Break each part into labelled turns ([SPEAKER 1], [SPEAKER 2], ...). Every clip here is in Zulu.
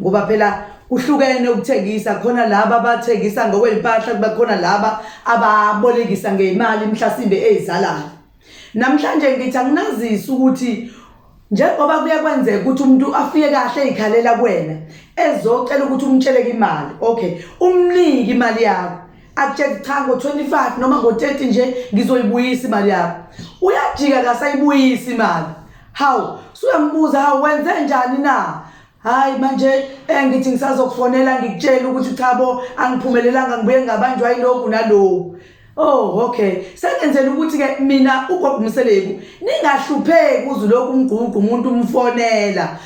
[SPEAKER 1] ngoba phela kuhlukene ukuthengisa khona laba abathengisa ngokwey'mpahla kuba khona laba ababolekisa ngey'mali mhlasimbe ey'zalayo namhlanje ngithi anginazisi ukuthi njengoba kuye kwenzeka ukuthi umuntu afike kahle ey'khalela kuwena ezocela ukuthi umtsheleke imali okay umnike imali yakho akutshela cha ngo-25 noma ngo-30 nje ngizoyibuyisa imali yakho uyajika kasayibuyisa imali hawu suyambuza hawu wenze njani na hayi manje engithi eh, ngisazokufonela ngikutshela ukuthi cha bo angiphumelelanga ngibuye ngabanjwa yilokhu naloku Oh okay. Sengenzela ukuthi ke mina ugogo Mseleku ningahlupheki uzu lokhu umgququ umuntu umfonela.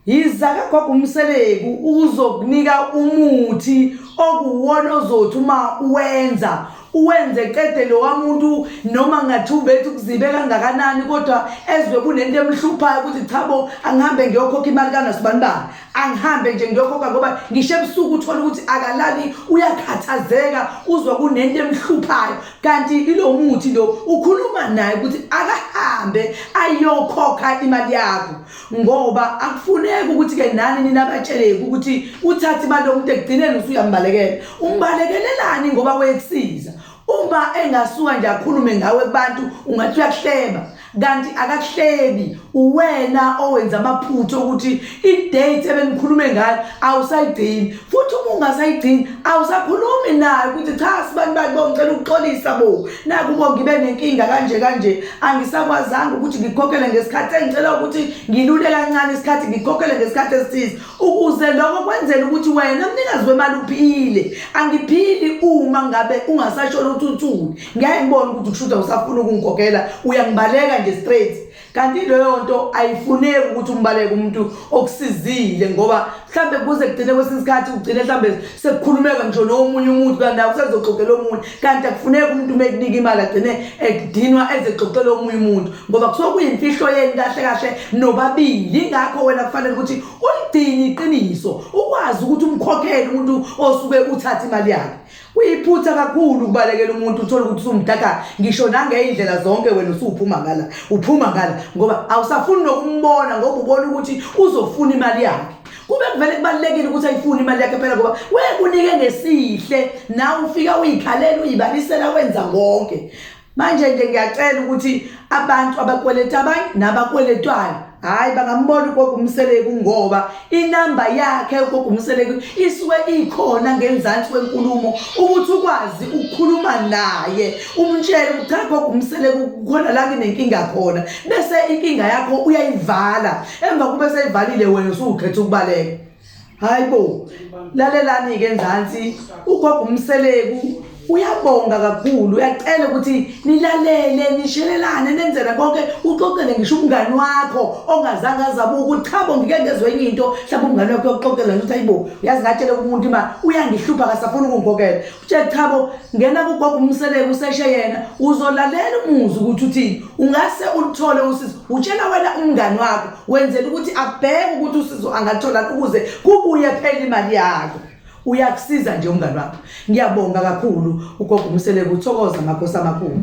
[SPEAKER 1] Yiza ke gogo Mseleku uzokunika umuthi okuwona ozothi uma uwenza uwenze qede lowa muntu noma ngathi ubethi ukuzibe kangakanani kodwa ezwe kunento emhluphayo ukuthi cha bo angihambe ngiyokhokha imali kangasibani bani angihambe nje ngiyokhokha ngoba ngisho ebusuku uthole ukuthi akalali uyakhathazeka uzwa kunento emhluphayo kanti ilo muthi lo ukhuluma naye ukuthi akahambe ayokhokha imali yakho ngoba akufuneki ukuthi ke nani nina batsheleke ukuthi uthathe imali yomuntu ekugcineni usuyambalekela umbalekelelani ngoba wekusiza uma engasuka nje akhulume ngawe kubantu ungathi uyakuhleba kanti akakuhlebi uwena owenza amaphutha ukuthi idate ebenikhulume ngayo awusayigcini futhi uma ungasayigcini awusakhulumi naye ukuthi cha sibantu bakhe bongicela ukuxolisa bo naku uma ngibe nenkinga kanje kanje angisakwazanga ukuthi ngikhokhele ngesikhathi engicela ukuthi ngilule kancane isikhathi ngikhokhele ngesikhathi esithize ukuze lokho kwenzela ukuthi wena mnikazi wemali uphile angiphili uma ngabe ungasashona ukuthi uthule ngeke ngibone ukuthi kushuda usafuna ukungikhokhela uyangibaleka nje straight kanti leyo nto ayifuneki ukuthi umbaleke umuntu okusizile ngoba mhlawumbe kuze kugcine kwesinye isikhathi kugcine mhlawumbe sekukhulumeka ngisho nomunye umuntu kanti naye usezoxoxela omunye kanti akufuneki umuntu uma ekunika imali agcine ekudinwa ezexoxela omunye umuntu ngoba kusuke kuyimfihlo yeni kahle kahle nobabili yingakho wena kufanele ukuthi ulidinye iqiniso ukwazi ukuthi umkhokhele umuntu osuke uthatha imali yakhe Kuyiphutha kakhulu ukubalekela umuntu uthole ukuthi usumdaka ngisho nangey'ndlela zonke wena usuphuma ngala uphuma ngala ngoba awusafuni nokumbona ngoba ubona ukuthi uzofuna imali yakhe kube kuvele kubalulekile ukuthi ayifune imali yakhe phela ngoba wekunike ngesihle nawe ufika uyikhalela uyibalisela wenza konke manje nje ngiyacela ukuthi abantu abakweleta abanye nabakweletwayo hhayi bangambona ugogo umseleku ngoba inamba yakhe ugogo umseleku isuke ikhona ngenzansi kwenkulumo ukuthi ukwazi ukukhuluma naye umtshele ukuthi cha gogo umseleku khona la nginenkinga khona bese inkinga yakho uyayivala emva kube seyivalile wena usuwukhetha ukubaleka hayi bo lalelani-ke enzansi ugogo umseleku uyabonga kakhulu uyacela ukuthi nilalele nishelelane nenzela konke uxoxele ngisho umngani wakho ongazange azabuka ukuthi cha bo ngike ngezwe enye into mhlawumbe umngani wakho yokuxoxela ukuthi ayibo uyazi ngatshela kumuntu ima uyangihlupha kasafuni ukungikokela Tshela chabo ngena kugogo umseleko useshe yena uzolalela umuzi ukuthi uthini ungase ulithole usizo utshela wena umngani wakho wenzela ukuthi abheke ukuthi usizo angathola ukuze kubuye phela imali yakho uyakusiza nje umngani wakho ngiyabonga kakhulu ugogo umseleko uthokoza makhosi amakhulu